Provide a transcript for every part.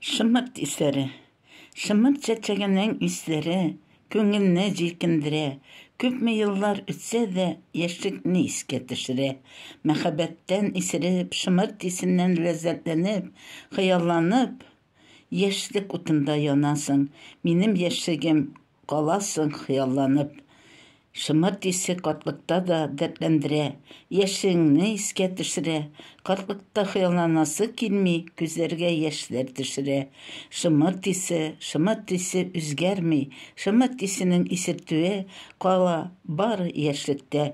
Шымырт исләре. Шымырт чәчәгенең исләре күңелне җилкендерә. Күпме еллар үтсә дә, яшьлекне искә төшерә. Мәхәббәттән исереп, шымырт исеннән ләззәтләнеп, хыялланып, Яшьлек утында янасың, Минем яшьлегем, Каласың хыялланып. Шымырт исе картлыкта да Дәртләндерә, Яшьлегеңне искә төшерә. Картлыкта хыялланасы килми, Күзләргә яшьләр төшерә. Шымырт исе, шымырт исе Үзгәрми, шымырт исенең Исертүе кала бары яшьлектә.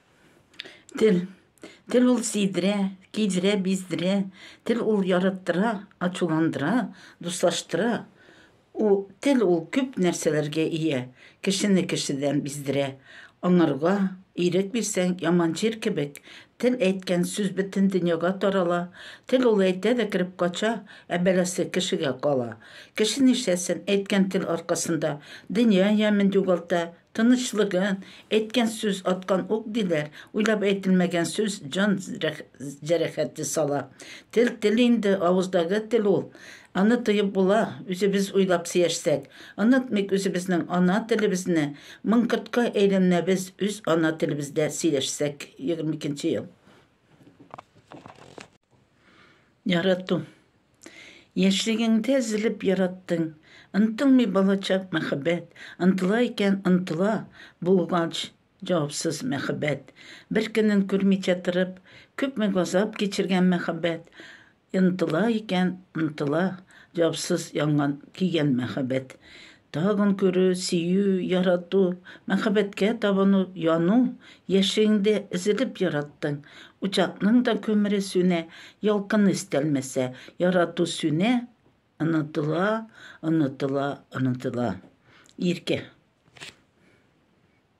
Тел. Тел ул сидерә, кидерә, биздерә. Тел ул яраттыра, ачуландыра, дуслаштыра. У, тел ул күп нәрсәләргә ия. Кешене кешедән биздерә. Аңарга ирек бирсәң, яман җир кебек, тел әйткән сүз бөтен дөньяга тарала. Тел ул әйтә дә кереп кача, ә бәласе кешегә кала. Кеше нишләсен, әйткән тел аркасында дөнья ямен югалта, Тынычлыгы, әйткән сүз аткан ук диләр, уйлап әйтелмәгән сүз җан җәрәхәте сала. Тел тел инде, авыздагы тел ул. Аны тоеп була, үзебез уйлап сөяшсәк. Онытмыйк үзебезнең ана телебезне, мын кортка әйләнәбез үз ана телебездә сөйләшсәк, егерме икенче ел. Ярату. Яшьлегеңдә зелеп яраттың, Онтылмый балачак мәхәббәт, Онтыла икән, онтыла, Булгач, җавапсыз мәхәббәт. Бер көнен күрмичә торып, Күпме газап кичергән мәхәббәт, Онтыла икән, онтыла, Җавапсыз янган, көйгән мәхәббәт. Тагын күрү, сөю, ярату, мәхәббәткә табыну, яну, яшьлегеңдә өзелеп яраттың, учакның да күмере сүнә, ялкыны өстәлмәсә, ярату сүнә, онытыла, онытыла, онытыла. Иркә.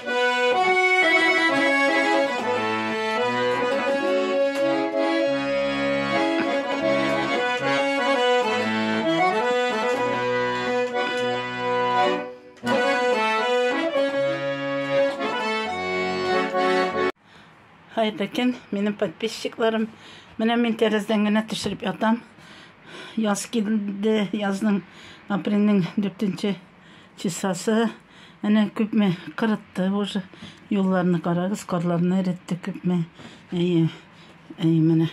Кайда кем? Минем подписчикларым. Менә мин тәрәздән генә төшереп ятам. Яз килде, язның, апрельнең 4 Чисасы, әнә күпме кырытты уже. Юлларны карагыз, карларны эретте күпме. Әйе, әйе, менә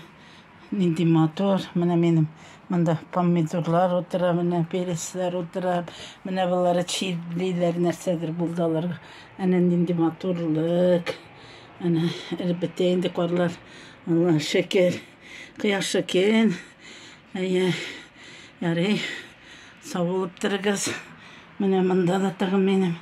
нинди матур. Менә минем монда помидорлар утыра, менә пересләр утыра. Менә болары чирлиләр, нәрсәдер булды аларга. Әнә нинди матурлык. Әнә эреп бетә инде карлар. Алла шөкер. Кояш шөкер. Әйе, ярый, сау булып торыгыз. Менә монда да тагын минем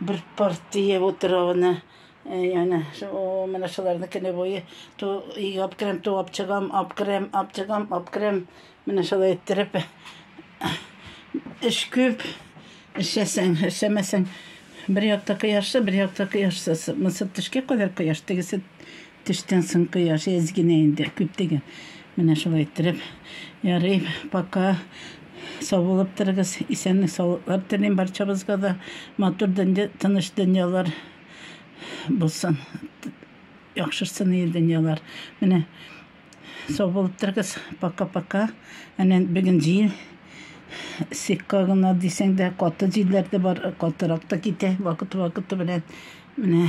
бер партия утравына. Яна, о, менә шуларны көне буе ту иг апкрем, ту апчыгам, апкрем, апчыгам, апкрем. Менә шулай иттереп эш күп. Эшләсәң, эшләмәсәң, бер якта кояшсыз, бер якта кояшсыз. Мысы төшкә кадәр кояш, тегесе Төштән соң кояш әз генә инде, күп түгел. Менә шулай иттереп, ярый, пока. Саулык торыгыз, исәнлек саулыклар телим барчабызга да. Матур дөнья, тыныч дөньялар булсын. Яхшырсын ие дөньялар. Менә сау булып торыгыз. Пока, пока. Әнә бүген җил сикка гына дисәң дә, каты җилләр дә бар, катырак та китә вакыт-вакыты белән. Менә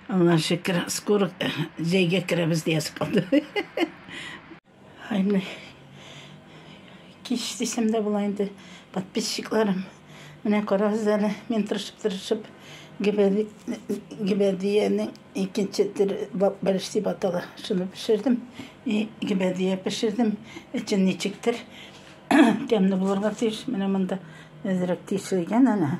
Аллага шөкер, скоро җәйгә керәбез диясе калды. Ай, менә кич дисәм дә була инде, подписчикларым. Менә карагыз әле, мин тырышып-тырышып гибәдиянең икенче төр бәлеш дип атала. Шуны пешердем. И гибәдия пешердем. Эчен ничектер тәмле булырга тиеш. Менә монда әзрәк тишелгән әнә.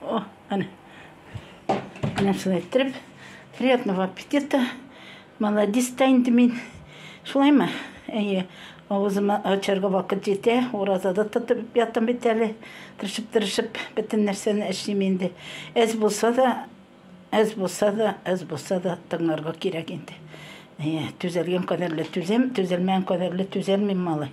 О, әне. Әне шулай иттереп. Приятного аппетита. Молодец та инде мин. Шулаймы? Әйе. Авызыма ачарга вакыт җитә. Уразада тотып ятам бит әле. Тырышып-тырышып бөтен нәрсәне эшлим инде. Әз булса да, әз булса да, әз булса да тыңларга кирәк инде. Әйе, түзәлгән кадәрле түзәм, түзәлмәгән кадәрле түзәлмим, малай.